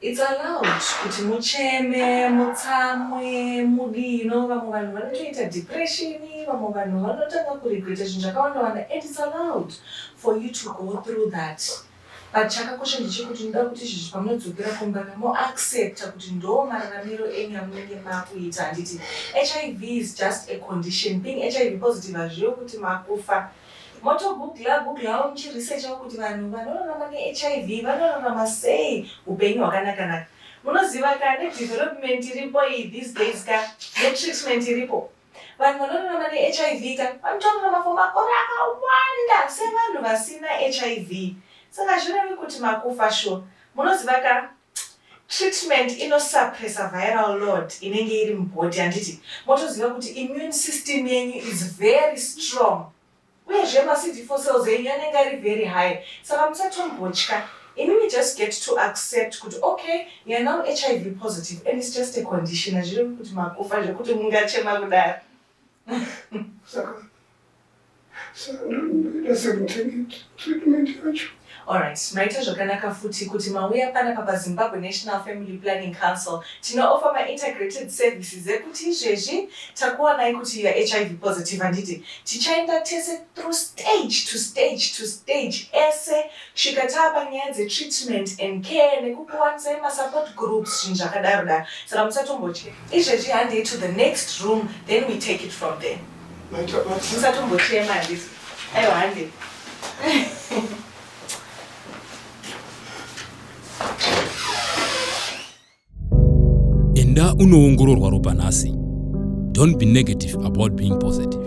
it's allowed kuti mucheme mutsamwe mudii no vamwe vanhu vanotoita depression vamwe vanhu vanotanga kuregreta zvinhu zvakawanda wanda and it's allowed for you to go through that But chakakosha ndechekuti ndinoda kuti izvezvi pamunodzokera kumba ka mo accepta kuti ndoo mararamiro enyu amunenge makuita handiti hiv is just a condition being hiv positive hazvirevi kuti makufa motogugla guglawo muchiresearchawo kuti vanhu vanorarama nehiv vanorarama sei upenyu hwakanakanaka munoziva ka nedevelopment iripo iyi these days ka netreatment iripo Vanhu vanorarama neHIV ka vanotorarama for makore akawanda sevanhu vasina hiv saka hazvirevi kuti makufa sure. Munoziva ka treatment inosuppressa viral load inenge iri mubody handiti? Motoziva kuti immune system yenyu is very strong. Uyezve ma CD4 cells enyu anenge ari very high saka musatombotya imimi just get to accept kuti okay you're now hiv positive and it's just a condition hazviri kuti makufa zvekuti mungachema kudaro saka saka ndoita sekutenga treatment yacho Alright, maita zvakanaka futi kuti mauya panapa pa Zimbabwe National Family Planning Council. Tino offer ma integrated services ekuti izvezvi takuwanai kuti you are hiv positive handiti? Tichaenda tese through stage to stage to stage ese kusvika taapa nyaya dze treatment and care nekukuwanisai ma support groups zvinhu zvakadaro daro. Saka musatombotye. Izvezvi handei to the next room then we take it from there. musatombochema handisi aiwa hande enda unoongororwa ropa nhasi don't be negative about being positive